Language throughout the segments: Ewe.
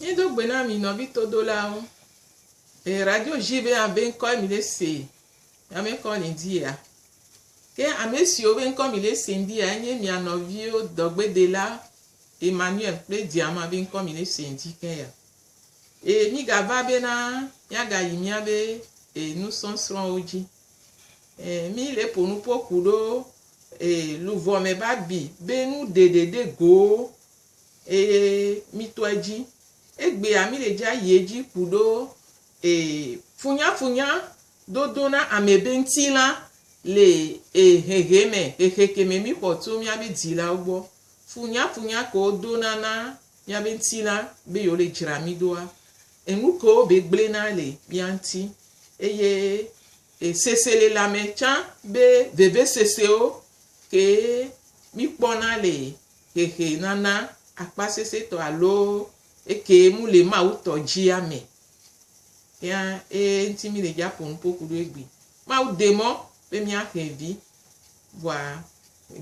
Mí do gbe na mi nɔvi todolawo. E radio ji be abe ŋkɔe mi le se ya me kɔ le di ya. Ke ame siwo be ŋkɔ mi le se di ya enye mia nɔviwo dɔgbedela Emmanuel kple Diama be ŋkɔ mi le se di ke ya. E mi gava be na mia ga yi mia be e nusɔsrɔ̃wo ji. E mi le ponu poku ɖo e luvɔ me ba bi be nu ɖeɖe ɖe go Ee, mitɔ edzi. Egbea mile dzi ayi edzi ku ɖo. Ee, funyafunya dodo na ame be ŋtilã le ee hehe me, hehe ke me mixɔ tso míabe dzilawo gbɔ. Funyafunya ke wodona na míabe ŋtilã be yewole dzra mí doa, enu ke wobe gblẽna le mía ŋuti. Eye e seselelãme tsã be vevesesewo kee míkpɔna le hehe nana akpasɛsɛtɔ alo eke mu le Mawu tɔ dzia me. Ya eye ŋuti mi le dza ƒo nuƒo ku ɖo egbi. Mawu de mɔ be mia xe vi. Vɔa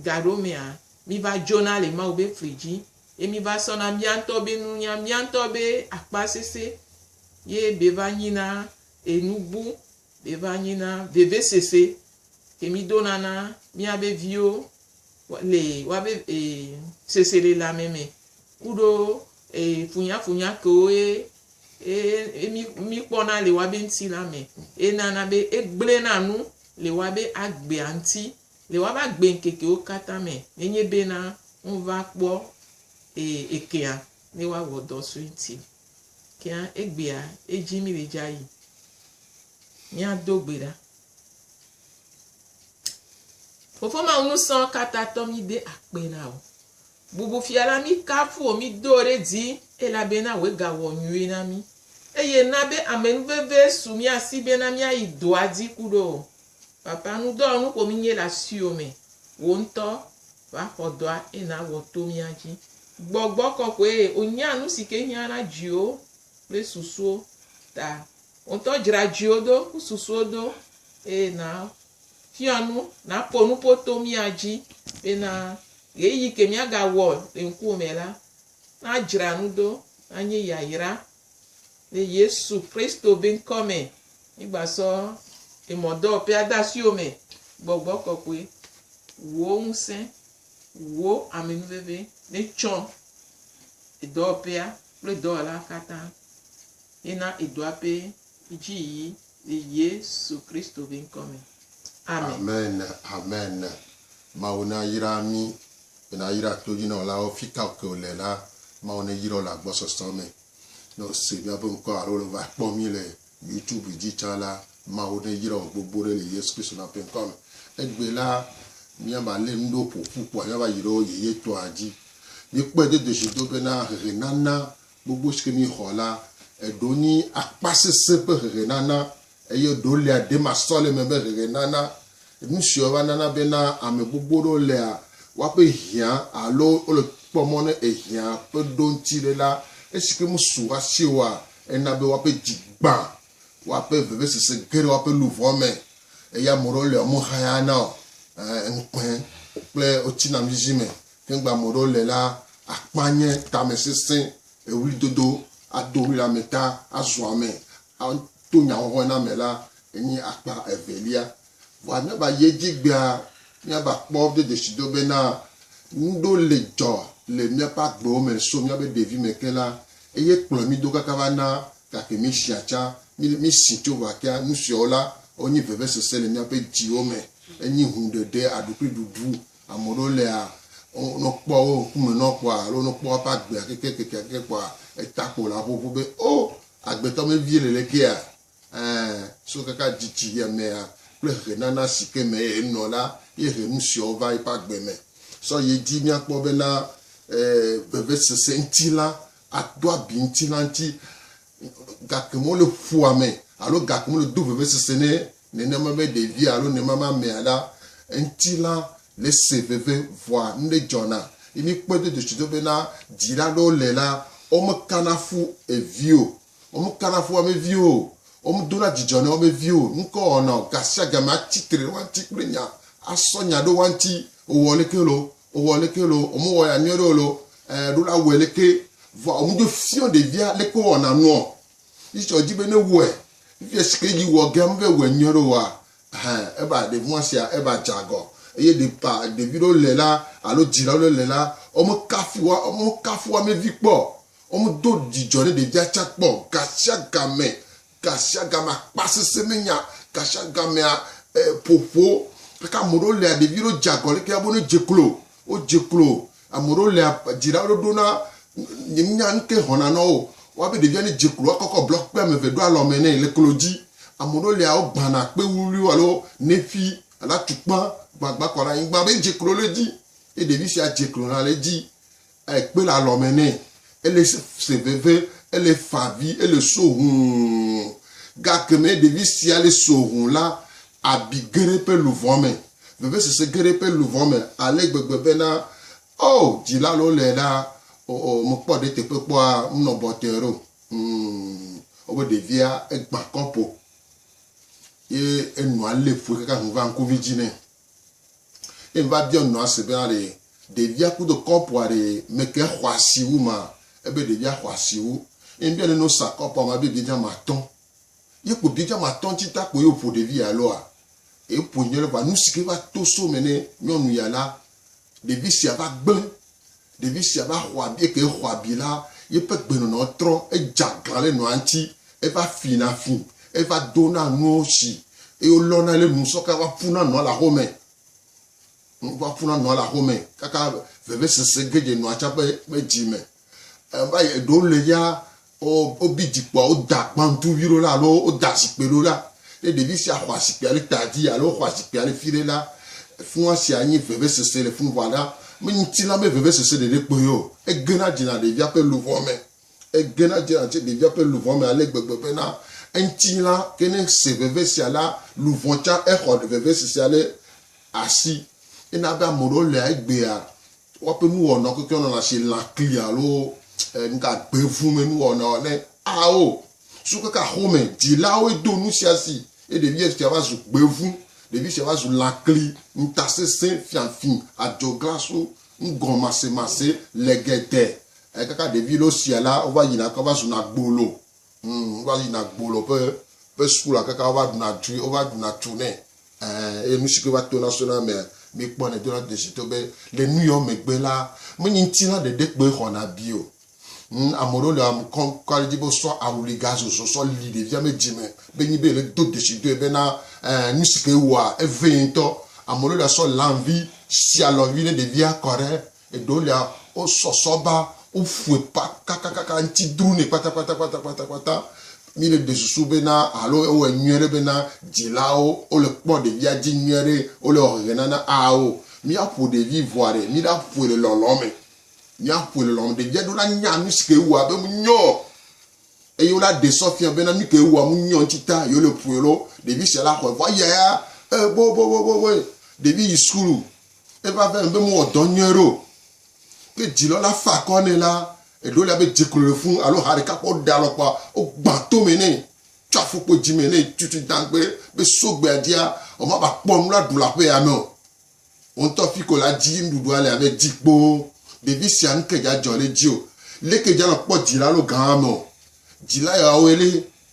gaɖo mea mi va dzona le Mawu be fli dzi ye mi va sɔna mia ŋutɔ be nunya, mia ŋutɔ be akpasɛsɛ ye be va nyi na enu bu, be va nyi na vevesese ke mi dona na mia be viwo le woabe e seselelame me kuɖo e funyafunya kewo ye e e mi mikpɔna le woabe ŋutilã me ye nana be egblẽna nu le woabe agbea ŋuti le woabe agbeŋkekewo katã me nenye bena wova kpɔ e ekea ne woawɔ dɔ sue ŋuti. Kea egbea edzim le dzayi. Míado gbe ɖa. Fofo Mawu nusɔ katatɔ mi de akpe na o. Bubu fia la mi kafu o mi do ɖe dzi elabena wòe ga wɔ nyuie na mi. Eye na be ame nu veve su mia si bena mia yi dɔa dzi ku ɖo o. Papa nu dɔ nu ƒo mi nye le asiwò me. Wò ŋutɔ va xɔ dɔa eye na wɔ to mia dzi. Gbɔgbɔ kɔkɔe o nya nu si ke hiã na dziwo kple susuwo ta Wò ŋutɔ dzra dziwò do kple susuwo do eye nàfia nu, nàƒo nuƒo to mía dzi bena ɣeyiɣi ke míagawɔ le ŋkuwò me la, nadzra nu do, nanye yayra. Le Yesu Kristo be ŋkɔ me, mígbasɔ emɔdɔwɔƒea de asiwò me, gbɔgbɔ kɔkɔe, wò ŋusẽ, wò amenuveve netsɔ edɔwɔƒea kple dɔwɔla katã. yi na edua pɛ dji yi le yesu kristo be ŋkɔ me amen. Amen amen mawu na yra mi be na yra todjinɔlawo fika ke wole la mawu ne yirɔ le agbɔsɔsɔ me ne wo se miabe ŋkɔ alo le va kpɔ mi le youtube dji tsa la mawu ne yra wo gbogbo ɖe le yesu kristo na ƒe ŋkɔ me egbe la mia va le nuɖewo ƒoƒu kpɔa mia va yi ɖe wo yeye tɔa dji mi kpɔe dodo dji do be na hehe nana gbogbo si ke míexɔ la, eɖewo nye akpasesẽ ƒe hehenana eye eɖewo le aɖemasɔleme ƒe hehenana. Nu siawo va nana bena ame gbogbo aɖewo lea woaƒe hiã alo wole kpɔ mɔ ne ehiã ƒe ɖo ŋuti ɖe la, esi ke mesu hafi oa, ena be woaƒe dzi gbã, woaƒe vevesese ge ɖe woaƒe luʋɔ me eye ame aɖewo le womehayaa na o, ŋukpe kple wotsina nuzizi me Ŋgbe ame ɖewo le la, akpa nye tamesesẽ, ɣlidodo, ado ɣli ame ta, azu ame, ato nyahɔhɔe na ame la, enye akpa evelia. Vɔa míava yi edzi egbea, míava kpɔ do dzesido bena, nuɖewo le dzɔ le míaƒe agbewo me so míaƒe ɖevime ke la, eye kplɔ mí do kaka va na gake míesia tsã, mí, mísi tso ʋakea. Nusiawo la, wonye vevesese le míaƒe dziwo me, enye huɖeɖe, aɖukliɖuɖu, Ame ɖewo lea, ne wokpɔ wo ŋkume nɔ kpɔa alo ne wokpɔ woƒe agbea kekekekeake kpɔa, eta kpo la ƒoƒo be, O! Agbetɔ me vie le le kea? Ẽ, so kaka dzidzi ya mea kple xexenana si ke me ye nɔ la ye he nu siawo va eƒe agbe me. Sɔ ye dzi míakpɔ bena e, vevesese ŋuti la ato abi ŋuti la ŋuti, gake mele ƒua me alo gake mele do vevesese ne Nenema be ɖevia alo nemamamea la ŋuti la le se veve vɔa nuɖe dzɔna. Ye míkpɔe do dotsido be na dzila aɖewo le la, womekana fu evi o. Womekana fu woabe viwo o. Womedona dzidzɔ na woabe viwo o. Nu kae wowɔna o? Gasiagame atsi tre ɖe woa ŋuti kple nya, asɔ nya ɖo woa ŋuti, wowɔ leke loo. Owɔ leke lo, ome wɔ ya nyɔɖe o lo, eh ɖo la wɛ leke, vɔa ome dzo fiɔ ɖevia leke wo wɔna nuɔ. Yi tsɔ dzi be ne wɛ, fifia shi ke yi wɔ ge ame ve wɛ nyɔɖe oa, ɛhɛ eva ɖevi wa sia eva dze agɔ. Eye ɖe ba ɖevi ɖewo le la alo dzilawo ɖe le la, ome kafu wa, ome kafu amevi kpɔ, ome do dzidzɔ ne ɖevia tsa kpɔ. Gashiagamɛ gasiagamea kpa sese me nya gasiagamea ƒoƒo gake ame ɖewo lia ɖevi ɖewo dze agɔ leke abe ne dze klo wodze klo ame ɖewo lia dzira ɖo ɖo na nye nya nu ke xɔna na wo wa be ɖevia ne dze klo akɔkɔ blɔk kpe ame eve ɖo alɔ me nɛ le klo dzi ame ɖewo lia wogbana kpe wuwliwo alo nefi alo atukpa gbagba kɔ ɖe anyigba be dze klo le dzi ye ɖevi sia dze klo na le dzi Ekpe le alɔ me nɛ, ele se veve, ele fa avi, ele so hũu. Gake ne ɖevi sia le so hũ la, abi ge ɖe eƒe luʋɔ me, vevesese ge ɖe eƒe luʋɔ me ale gbegbe bena, Oo, dzila alo le la, oo, mekpɔ ɖe teƒe kpɔa, menɔ bɔtɔe ɖo. Hũu, wobe ɖevia egbã kɔpo ye enɔa lé ƒue kaka ŋu va ŋkuvi dzi nɛ. Eye meva biɔ nɔ ase bena ɖe ɖevia kudo kɔpua ɖe meke xɔasi wu ma? Ebe ɖevia xɔasi wu. Eye mbiɔ neno sa kɔpua ma be biedza matɔ̃. Ye kpo biedza matɔ̃ ŋtsi ta kpo ye woƒo ɖevi ya loa? Eƒoe nyɔɖe vɔa nusike va to so me ne nyɔnu ya la Ɖevi sia va gblẽ. Ɖevi sia va xɔ abi. Eke xɔ abi la, yeƒe gbenɔnɔ trɔ. Edze aglã ɖe nɔa ŋuti. Eva fina fi. Eva dona nuwo si eye wolɔna ɖe nu sɔke va ƒuna nɔa le axome. Nu va ƒuna nɔa le axome kaka vevesese ge dze nɔa tsa ƒe dzi me. Eva yi eɖewo le ya Wo, wobi dzikpɔa, woda gbantuvi ɖo la alo woda zikpui ɖo la. Ne ɖevi sia xɔa zikpuia ɖe ta dzi alo xɔa zikpuia ɖe fi ɖe la, fua sia nye vevesese le fun ʋã ɖa. Me ŋutilã be vevesese ɖeɖe kpoe o. Egena dzena ɖevia ƒe luʋɔ me. Egena dzena tse ɖevia ƒe luʋɔ me ale gbegbe bena eŋutilã ke ne se veve sia la, luʋɔ tsã exɔ vevesesea ɖe asi. Ena be ame ɖewo lea egbea. Woaƒe nuwɔna kekewo nɔna asi lãkli alo nuka gbevumɛ nuwɔnawo ne ao so keke axome. Dzilawoe do nu sia si eye ɖevi sia va zu gbevu. Ɖevi sia va zu lãkli, ŋutasesẽ, fiafi, adzɔglasu, nugɔmasemase, legede. Ekaka ɖevi lɔ sia la, wova yina ke va zuna gbolo Ŋ, wova yina gbolɔ ƒe ƒe sukula kaka wova ɖuna tui, wova ɖuna tu nɛ. Ɛ, eye nu si ke va tona sona emea, mikpɔnɛ dona desitɔ be le nuyɔ megbe la, menye ŋutilã ɖeɖe kpoe xɔna abi o. Ŋ, ame ɖewo le amu kɔm kɔ ɖe edzi be wosɔ awli gazozo sɔ li ɖevia me dzime be nyi be le do desidɔe bena, ɛ, nu si ke ewɔa, evee ŋutɔ. Ame ɖewo ɖa sɔ lãvi sialɔvi ne ɖevia kɔ ɖe Eɖewolia, wosɔsɔ ba, woƒoe pa kakakaka, ŋti drunɛ kpatakpatakpatakpata. Mi ɖe ɖe susu be na alo ewɔe nyuie ɖe be na dzilawo wole kpɔ ɖevia dzi nyuie ɖe, wole wɔ hehe nana? Ao, mia ƒo ɖevi ŋua ɖe, mi ɖa ƒoe le lɔlɔ me. Mia ƒoe le lɔlɔ me. Ɖevia ɖewo la nya nusi ke ewɔa be mu nyɔ o, eye wola ɖe sɔ fia be na nuke ewɔa mu nyɔ ŋti ta ye wole ƒoe lo. Ɖevi sia la xɔe vɔ ayaya, e boboboboboe. Ɖevi yi sukulu, Eva ve be mewɔ dɔ nyuie ɖo. Ke dzilɔ la fa akɔ nɛ la, eɖo la be dze klo le fũ alo ha ɖeka kpɔ ɖe alɔ kpɔa, wogbã tome nɛ, tsɔ afukpo dzime nɛ tutu dãgbe be so gbea dzia, womava kpɔ nu la ɖu le aƒea me o. Wò ŋutɔ fiko la dzi nuɖuɖua le abe dzi kpoo. Ɖevi sia nuke dza dzɔ le edzi o. Leke dza nɔ kpɔ dzila alo gã ame o. Dzila yawoe le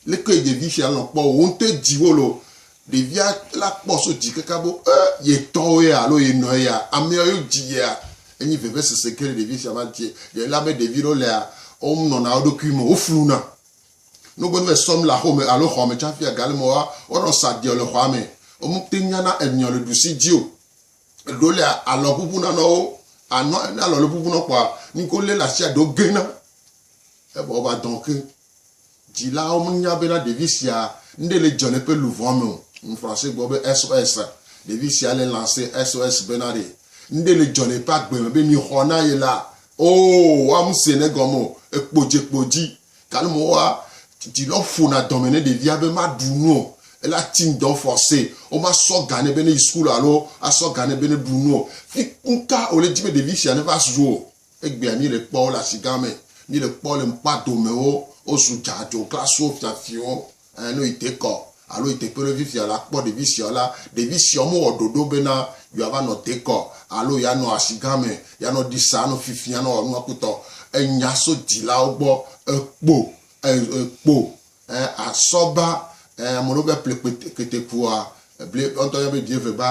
Leke ɖevi sia lɔ̃ kpɔ wò ŋutɔe dzi wole o. Ɖevia la kpɔ so dzi kaka be e ye tɔwo ya alo ye nɔ ya amea yo dzi yea. Enyi vevesese ke ɖe ɖevi sia va dzi elabe ɖevi ɖewo lea wo nɔna wo ɖokui me, wo fluna. Ne wo gbe va yi sɔ nu le aƒe me alo xɔ me tsaƒi a gale me wo nɔ sa ɖiɔ le xɔa me. Wo me te nyana enyɔ le ɖusi dzi o. Eɖewo lea alɔ ʋuʋu na nɔ wo. Anɔ ne alɔ le ʋuʋu nɔ kpɔa nuke wo le le asia ɖewo gena. Evɔ wo va dɔn ke. Dzilawo menya bena ɖevi sia nuɖe le dzɔ le eƒe luʋɔa me o. Nu Francais gblɔ be SOS. Ɖevi sia le lancer SOS bena ɖe nuɖe le dzɔ le eƒe agbe me be mixɔ na ye la, oo, woamesee ne egɔme o. Ekpo dze kpo dzi. Gake mewɔa dzilawo ƒona dɔme ne ɖevia be maɖu nu o. Ele ati ŋdɔ forcee. Womasɔ ga nɛ be neyi sukulu alo asɔ ga nɛ be neɖu nu o. Fi nuka wòle di be ɖevi sia neva zu o? Egbea mí le kpɔ wo le asigã me, mí le kpɔ le ŋkpa dome wo, wo zu dza dzo kla so fia fiwo. Ɛ, ne yi dekɔ alo yi teƒe ɖe fifia la, kpɔ ɖevi siawo la, ɖevi siawo me wɔ ɖoɖo be na yewoa va nɔ dekɔ alo ya nɔ asigã me, ya nɔ ɖi sa, anɔ fifia, anɔ wɔ nua kpɔtɔ. Enya so dzilawo gbɔ, ekpo, ɛ, ekpo E a sɔ ba e ame ɖewo be ple kpete kete kua e ble ɔ ŋutɔ yɔ be vie ve ba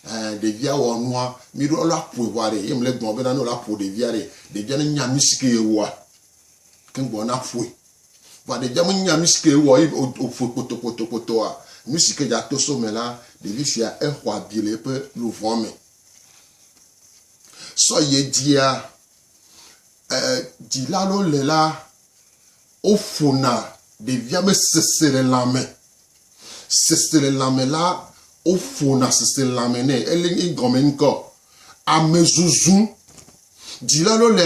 e ɖevia wɔ nua mi ɖo ɔlɔ aƒoe ʋua ɖe ye mle gbɔn be na ne ɔlɔ aƒo ɖevia ɖe ɖevia ne nya nu sike ye wɔa ke gbɔn na ƒoe vɔa ɖevia me nya nu sike ye wɔ ye o o ƒoe kpoto kpoto kpotoa nu sike dza to so me la ɖevi sia e xɔ abi le eƒe luvɔ me sɔ ye dzia e dzila ɖewo le la Woƒona ɖevia me seselelãme. Seselelãme la, woƒona seselelãme nɛ. Ele egɔme ŋkɔ, amezuzu. Dzila ɖewo le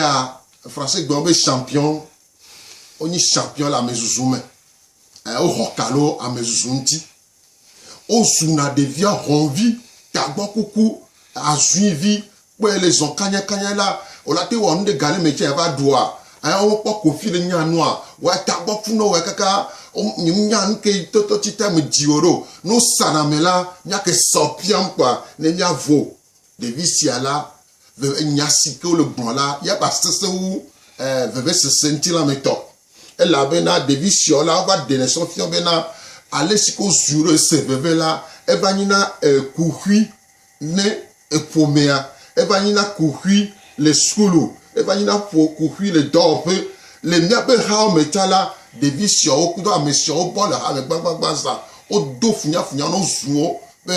Français gbe be champion. Wonye champion le amezuzu me. Woxɔ ka ɖe amezuzu ŋuti. Wozuna ɖevia hɔnvi, tagbɔ kuku, azuivi, kpɔe le zɔn kanyakanya la, wòla te wɔ nu ɖe ga ɖe me tsɛ va ɖua, aya wokpɔ kofi le nya nua, wòa tagbɔ ku nɔ wòa kaka nya nu ke tɔtɔ tsi ta me dzi wɔ ɖo. Ne wosa na me la, nya ke sa wò piam kpɔa, ne mia vo ɖevi sia la, veve nya si ke wole gblɔ la ya ba sese wu vevesese ŋutilãmetɔ. Elabena ɖevi siɔ la, wova ɖenɛ sɔ fiɔ bena, alesi ke wozu ɖe se veve la, eva nyi na kuxi ne ƒomea, eva nyi na kuxi le sukulu, eva nyi na ƒo kuxi le dɔwɔƒe. Le míaƒe hawo me ta la, ɖevi siɔwo kudo ame siɔwo bɔ le hame gbagbagba zã. Wodo funyafunya nɔ zuwo be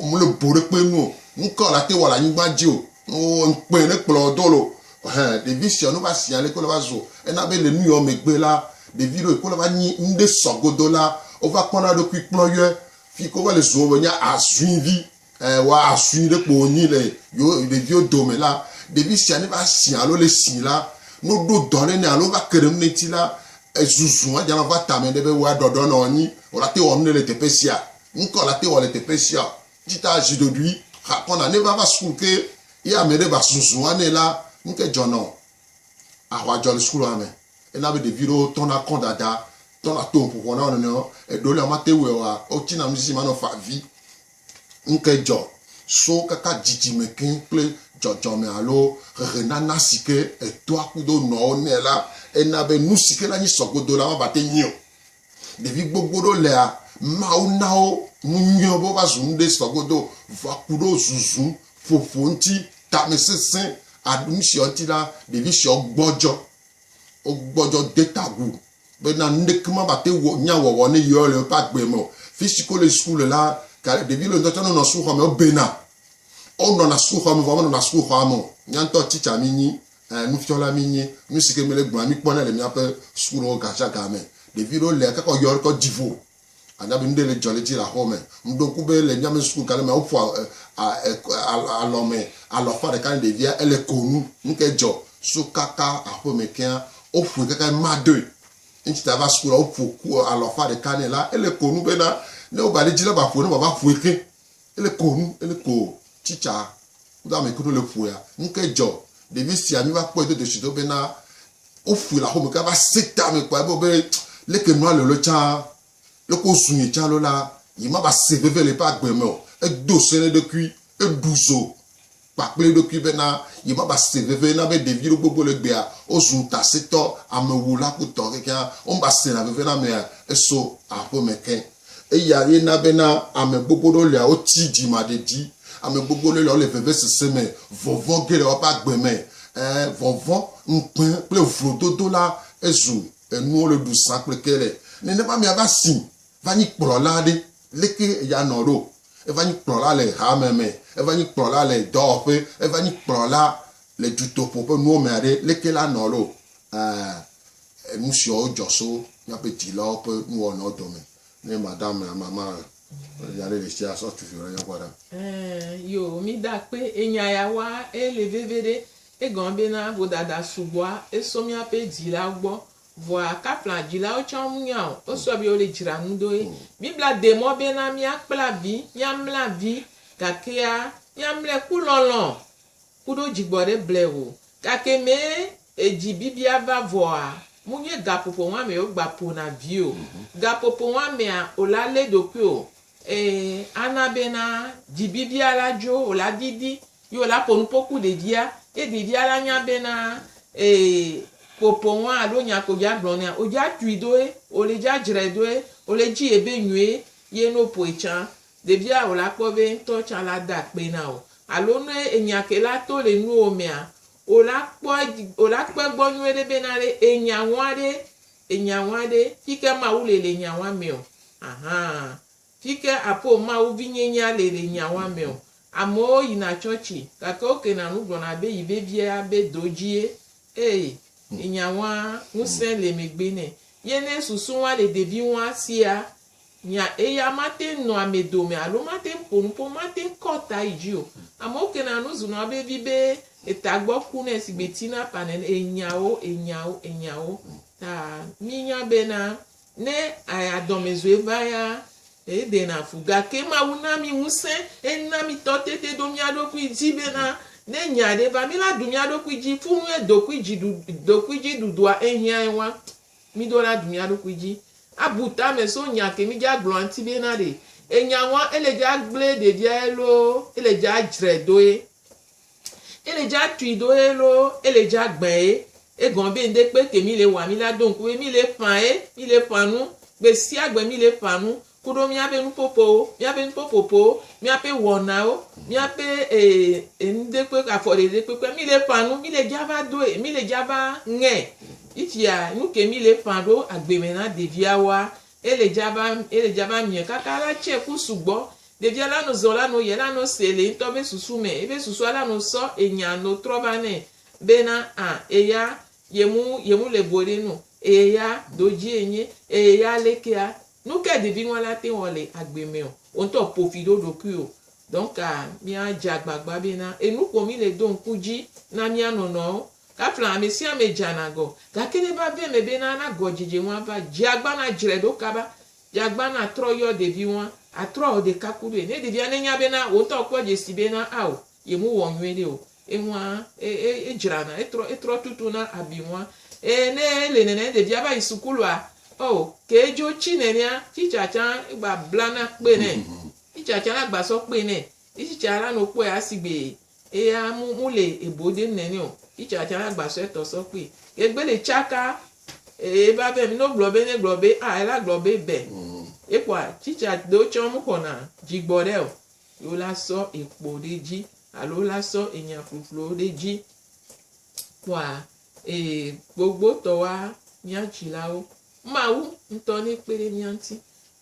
womele boɖekpe nu o. Nukawo le ate wɔ le anyigba dzi o? Ŋkpɛ ne kplɔ do lo. Hẽ, ɖevi sia nu va si ale ke wòle va zu ena be le nuyɔ megbe la, ɖevi ɖewo yi ke wole va nyi nu ɖe sɔ godo la, wova kpɔna eɖokui kplɔ yɔe. Fi yi ke wova le zua wòle nye azuivi. Ɛ, wɔ azui ɖe kpo wònyi le yewo ɖeviwo dome la, ɖevi sia ne va si alo le si la, ne woɖo dɔ ɖe nɛ alo wova ke ɖe nu ɖe ŋuti la, ezuzu adzana wòva tame ɖe be woaɖɔɖɔ nɔ anyi. Wòlate ŋu awɔ nu ɖe le teƒe sia. Nu ka wòlate ŋu awɔ le teƒe sia? Ti ta zi ɖoɖui xa kɔna ne vava sukulu ke ye ame ɖe va zuzu wane la nuke dzɔna o. Ahwa dzɔ le sukulua me. Ena be ɖevi ɖewo tɔna kɔ dada, tɔna to ƒoƒo na wo nɔnɔewo. Eɖewo le womate wue oa, wotsina nu sisi me anɔ fa vi. Nuke dzɔ so kaka dzidzime ke kple dzɔdzɔme alo ʋeʋenana si ke etoa kudo nɔwo nɛ la, ena be nu si ke nanyi sɔgodo la mava te nyi o. Ɖevi gbogbo ɖewo lea, Mawu na wo nu nyuiwo be wova zu nu ɖe sɔ godo, vɔa ku ɖewo zuzu, ƒoƒo ŋuti, tamesesẽ, aɖu nu siawo ŋuti la, ɖevi siawo gbɔdzɔ. Wogbɔdzɔ de ta agu be na nu ɖeke mava te wɔ nya wɔwɔ ne yewo le woƒe agbe me o. Fi si ke wole suku le la, ka ɖe ɖevi le ŋutɔ tsɛ ne wonɔ sukuxɔ me wobena. Wonɔna sukuxɔ me vɔ womenɔna sukuxɔa me o. Mía ŋutɔ tsitsa mi nyi Ɛɛ, nufiala mínyi. Nu si ke mí le gblɔa, míkpɔnɛ le míaƒe sukuɖewo gasiaga me. Ɖevi ɖewo lia kaka woyɔ ɖe dziƒo. Ànya be nu ɖe le dzɔ le edzi le aƒewo me. Meɖo ŋku be le míaƒe suku gã ɖe mea, woƒoa alɔ me alɔ ƒã ɖeka ne ɖevia ele ko nu. Nu kae dzɔ? Suku kaka aƒe me kea, woƒoe kaka be madoe. Eŋti ta va suku la, woƒo alɔ ƒã ɖeka nɛ la, ele ko nu bena ne wova ɖe edzi la, maƒoe ne mava ƒoe xe. Ele ko nu, ele ko tsitsa kudo ame kudo le ƒoya. Nu ke dzɔ ɖevi sia mi va kpɔe do dosi do bena woƒoe le axome ke va se ta me kpɔe be be leke nua le lo tsã leko zu ne tsã lo la yi ma va se veve le eƒe agbe me o. Edo se ne ɖekui, eɖu zo kpa kple eɖokui bena yewova se veve na be ɖevi ɖe gbogbo le gbea wozu ŋutasẽtɔ, amewula ku tɔ kekeŋ womeva sena veve na amea eso aƒe me ke. Eya ye na bena ame gbogbo ɖewo lia woti dzimaɖeɖi, ame gbogbo ɖewo lia wole vevesese me, vɔvɔ̃ ge le woƒe agbe me. Ẽ, vɔvɔ̃, ŋukpe kple vlododo la ezu enuwo le ɖu zã kple ke le. Nenema amea va si va nyi kplɔla aɖe. Leke eya nɔ ɖo? Eva nyi kplɔla le hame me, eva nyi kplɔla le dɔwɔƒe, eva nyi kplɔla le dutoƒo ƒe nuwo me aɖe. Leke la nɔ ɖo? Ẽ, enu siawo dzɔ so míaƒe dzilawo ƒe nuwɔnawo dome. Ne madame mama nya ɖe ɖe tsia, sɔ tuvi ɖe nyɔkpɔ ɖa. Ẽ, yo, mí da kpe enya ya wa eye le veveɖe egɔme bena vodada sugbɔa eso míaƒe dzilawo gbɔ Vɔa kapla dzilawo tsã wo munya o. Wo sɔ be wole dzra nu ɖo ye. Biblia de mɔ be na mía kpla vi, mía mla vi, gakea mía mlɛ ku lɔlɔ kuɖo dzigbɔ ɖe blɛ o. Gake mɛ edzi bibia va vɔa, mu nye gapopo ŋa mɛ wo gba po na vi o. Gapopo ŋa mɛa, o la lé ɖokuio Ee, ana bena dzibibia la dzo, wòla didi, ye wòla ƒo nuƒo ku ɖevia, ye ɖevia la nya bena ee, ƒoƒoŋ alo nya ko dza gblɔ nɛa, wòdza tui do ye, wòle dza dzrae do ye, wòle dzi ye be nyuie ye ne wòƒoe tsã, ɖevia wòla kpɔ be eŋutɔ tsã la de akpe na wò. Alo ne enya ke la to le nuwò mea, wòla kpɔ edzi, wòla kpɔ egbɔ nyuie ɖe bena ɖe enya ŋua ɖe Enya ŋwa ɖe, fike Mawu le le enya ŋwa mɛ o? Ahan. Fike apo Mawu vinyenyea le le enya ŋwa mɛ o? Amewo yina tsɔtsi, gake wokena nu gblɔna be yi veviea be do dji ye. Ee, enya ŋwa, ŋusẽ le megbe nɛ. Ye ne susu ŋwa le ɖevi ŋwa sia, Nya eya mate ŋu nɔa ame dome alo mate ŋu ƒo nu ƒo mate ŋu kɔ ta yi dzi o. Amewo kena nu zunɔa vevi be eta gbɔ ku nɛ sigbe tsina ƒã nene. Enyawo, enyawo, enyawo ta mínya bena ne aya dɔmezɔe va ya edena fu. Gake Mawu na mí ŋusẽ. Ena mí tɔtete ɖo mía ɖokui dzi bena ne nya aɖe va, míla ɖu mía ɖokui dzi. Fu nue dokuidziɖuɖ, dokuidziɖuɖua ehiãe wa. Mido na du mia ɖokui dji. Abu tame so nya ke mi dja gblɔ anti be na ɖe. Enya ŋua ele dja gble ɖevia ye loo ele dja djre do ye. Ele dja tui do ye loo ele dja gbe ye. Egɔme be ŋɖe kpe ke mi le wa mi la do ŋku be mi le ƒã ye, mi le ƒã nu. Gbe sia gbe mi le ƒã nu. ku ɖo míaƒe nuƒoƒowo, míaƒe nuƒoƒoƒowo, míaƒe wɔnawo, míaƒe enuɖekpe, afɔɖeɖekpekpea, mí le ƒã nu, mí le dza va doe, mí le dza va ŋe. Yi tsia nu ke mí le ƒã ɖo agbe me na ɖeviawoa, ele dza va, ele dza va miɛ kaka la tse ku sugbɔ. Ɖevia la no zɔ la no ye la no se le yetɔ be susu me. Ebe susua la no sɔ enya no trɔ va nɛ be na a eya ye mu, ye mu le boɖe nu, eya do dzi enye, eya lekea, Nukae deviŋɔli ate ŋu wɔ le agbe me ɔ? Wò ŋutɔ ƒo fi ɖo ɖokuiwò. Donc míadze agbagba bena enu ko mí le do ŋku dzi na mía nɔnɔewo. Kafla amesiame dzana gɔ. Gake ne va ve eme bena ana gɔdzedze ŋu ava, dze agbã nadzrae ɖo kaba. Dze agbã natrɔ yɔ ɖeviŋɔa, atrɔ awɔ ɖekakuɖoe. Ne ɖevia nenya bena wò ŋutɔ kpɔ dzesi bena ao Yemewɔ nyuie ɖi o. Eŋua, e, e, edzrana, etrɔ, etrɔ tutu na abi ŋua. E, ne ele nene, ɖevia va yi sukulua, oh, ke edzo tsi nenea, tsitsa tsã egba blana kpe nɛ. Tsitsa tsã la gba sɔ kpe nɛ. Tsitsa la nɔ kpɔe asi gbee. Eya mu, mu le ebo dem nenɛ o. Tsitsa tsã la gba sɔ etɔ sɔ kpee. Ke egbe le tsaka, e, eva be ne wogblɔ be, ne gblɔ be, ah, ela gblɔ be, be. Ekpɔa, tsitsa ɖewo tsã mu xɔna dzigbɔ ɖe o. ye wolasɔ ekpo ɖe edzi alo wolasɔ enya ƒuƒluwo ɖe edzi kpɔa ee gbogbotɔwoa mía dzilawo. Mawu ŋutɔ nekpe ɖe mía ŋuti.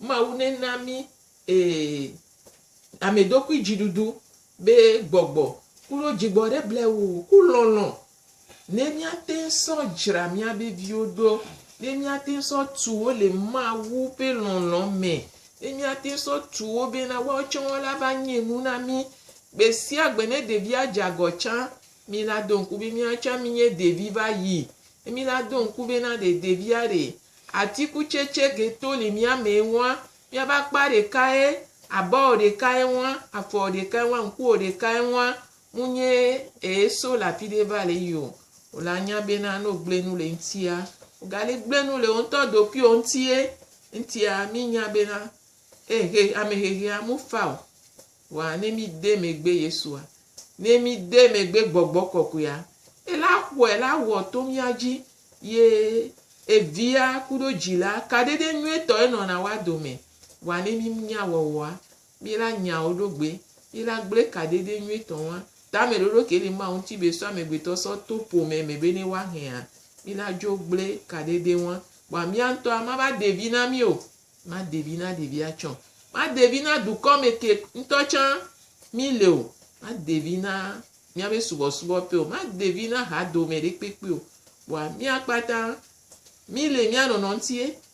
Mawu nena mí ee ameɖokuidziɖuɖu be gbɔgbɔ kuɖo dzigbɔ ɖe blewoo ku lɔlɔ̃ Ne míate ŋu sɔ dzra míabe viwo ɖo, ne míate ŋu sɔ tu wo le Mawu ƒe lɔlɔ̃ me, ne míate ŋu sɔ tu wo bena woawo tsɛ woava va nye nu na mí. Gbe sia gbe ne ɖevia dze agɔ tsã, mí la do ŋku be míawo tsã mínye ɖevi va yi. Ne mí la do ŋku bena ɖe ɖevia ɖe atikutsetse ke to le mía me ŋua, míabe akpa ɖekae, abawò ɖekae ŋua, afɔwò ɖekae ŋua, ŋkuwò ɖekae ŋua, ŋu nye ee so le afi ɖe va le yi o. Wò la nya bena ne wògblẽ nu le ŋutia, wògali gblẽ nu le wò ŋutɔ ɖokuiwò ŋutie. Ŋutia, mi nya bena ehe ame hehea mu fa o. Vɔa ne mi de megbe Yesua, ne mi de megbe Gbɔgbɔ Kɔkɔea, ela xɔe la wɔ to mía dzi ye Evia kuɖo Dzila kaɖeɖe nyuietɔ enɔna woa dome. Vɔa ne mi nya wɔwɔa, mí la nya wo ɖo gbe, mí la gble ka ɖeɖe nyuie tɔ ŋua, tame ɖoɖo ke li Mawu ŋuti be sɔ amegbetɔ sɔ to ƒome me be ne woa hea? Mí la dzo gble ka ɖeɖe ŋua. Kpɔa mía ŋutɔa, ma va de vi na mí o, ma de vi na ɖevia tsɛ o, ma de vi na dukɔ me ke ŋutɔ tsã mí le o, ma de vi na míabe subɔsubɔ ƒe o, ma de vi na ha dome ɖe kpekpe o. Kpɔa mía kpata mí le mía nɔnɔ ŋutie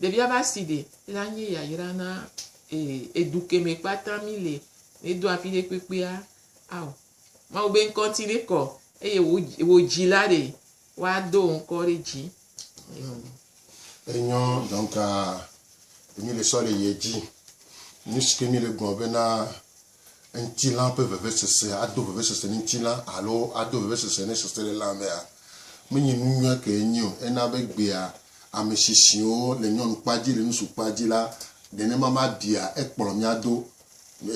Ɖevia be aside la nye yayra na ee edu keme kpata mi le medo afi ɖe kpekpea ao Mawu be ŋkɔ ŋti ne kɔ eye wo wo dzila ɖe wa do wo ŋkɔ ɖe dzi. Amen. Enyɔ donc mi le sɔ le yedzi nuske mi le gblɔ bena ŋutilã ƒe vevesese ado vevesese ne ŋutilã alo ado vevesese ne seselelã mea, menye nu nyui ke enye o. Ena be egbea ame shishiwo le nyɔnukpa dzi, le ŋutsukpa dzi la, nenema mabia ekplɔ mía do.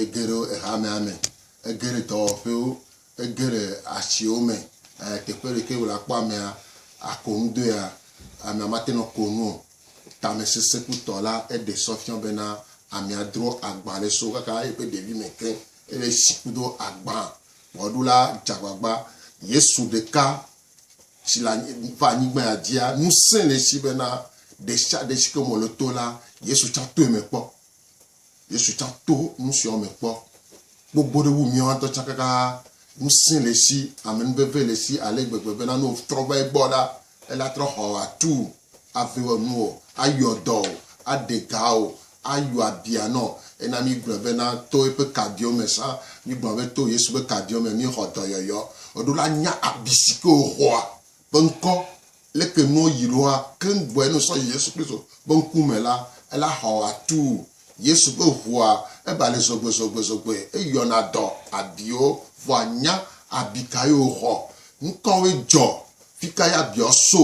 Egere ehamea me, egere dɔwɔƒewo, Ege ɖe atsiwo me le teƒe ɖe ke wòle akpɔ amea ako nu doea, amea mate ŋu ako nu o. Tamesesekutɔ la, eɖe sɔ fiɔ bena amea dro agbã ɖe so kaka eƒe ɖevime ke. Ele si kudo agbã wɔɖula dze agbagba. Yesu ɖeka si le va anyigba ya dzia ŋusẽ le esi bena ɖesiaɖe si ke me wòle to la, Yesu tsã toe me kpɔ. Yesu tsã to nu siawo me kpɔ gbogbo ɖe wu míawo ŋutɔ tsã kaka. Ŋusẽ le esi, amenuveve le esi ale gbegbe bena ne wòtrɔ va egbɔ la, ele atrɔ xɔ wò, atu wò, ave wɔ nuwò, ayɔ dɔ wò, aɖe ga wò, ayɔ abia nɔ. Ena míegblɔ bena to eƒe kaɖiwo me sã. Míegblɔ be to Yesu ƒe kaɖiwo me míexɔ dɔyɔyɔ. Eɖo la nya abi si ke wòxɔa ƒe ŋkɔ leke nuwo yi ɖoa keŋ gbɔe no sɔ yi Yesu Kristo ƒe ŋkume la, ela xɔ atu Yesu ƒe ʋua ebalɛ zɔgbezɔgbezɔgbɔe eyɔna dɔ abiwo vɔa nya abi kae woxɔ, nukawoe dzɔ, fikae abiawo so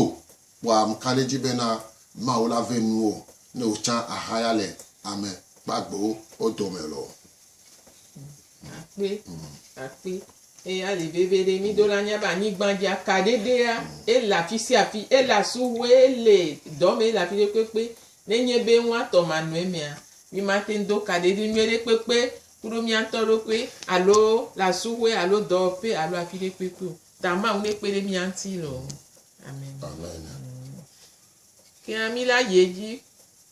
kpɔa ŋkaɖedzi bena Mawu la vɛ nuwo ne wotsã ahaya le ame kpagbewo dome loo. Akpe, akpe. Eye ali veviɖe mi do la nya be anyigba dzi aka ɖeɖea ele afi sia afi, ele asuwue, ele dɔme, ele afi ɖe kpekpe. Nenye be woatɔ manɔe mea, mi mate ŋu do ka ɖeɖe nyuie ɖe kpekpe kuɖo mia ŋutɔ ɖokui alo le asuwue alo dɔwɔƒe alo afi ɖe kpekpe o. Ta Mawu nekpe ɖe mia ŋuti loo. Amen. Amen. Ke hã mi la yi edzi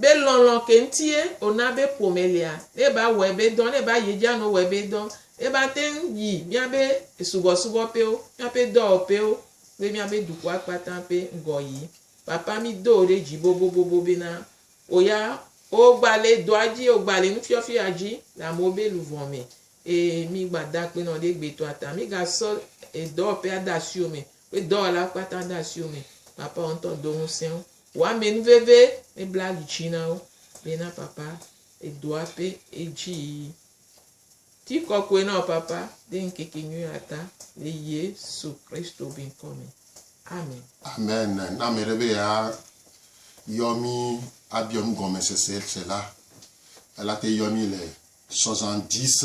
Be lɔlɔ̃ ke ŋutie wòna be ƒome lia, ne ba wɔe be dɔ, ne ba yedza no wɔe be dɔ, ne ba te ŋu yi míabe subɔsubɔ ƒewo, míaƒe dɔwɔƒewo kple míabe dukɔa kpata ƒe ŋgɔ yi. Papa, mí do wò ɖe dzi bobobobo be na wò ya wò gba le dɔa dzi, wò gba le nufiɔfia dzi le amewo be luvɔ me. Eye mí gba da akpe nɔ ɖe egbetɔa ta. Mí ga sɔ edɔwɔƒea de asiwò me, kple dɔwɔla kpata de asiwò me. Papa, wò ŋutɔ do ŋusẽ wo. Woame nu veve, ebla ali dzi na wo be na papa edo aƒe edzi yi. Ti kɔkɔe na wò papa de ŋkeke nyui ata le Yesu Kristo be ŋkɔ me. Amen. Amen. Ne ame ɖe be ya yɔ mi abiɔ nu gɔmesese se la, ela te yɔ mi le sɔzan dix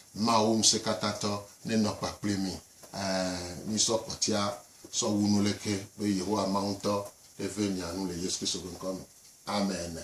Mawu Ŋusẽkatãtɔ nenɔ kpakple mí. Ɛ̃, mísɔ kpɔtsia sɔ wu nu leke be Yehowa Mawu ŋutɔ neve mia nu le Yesu Kristo ƒe ŋkɔ me. Amene.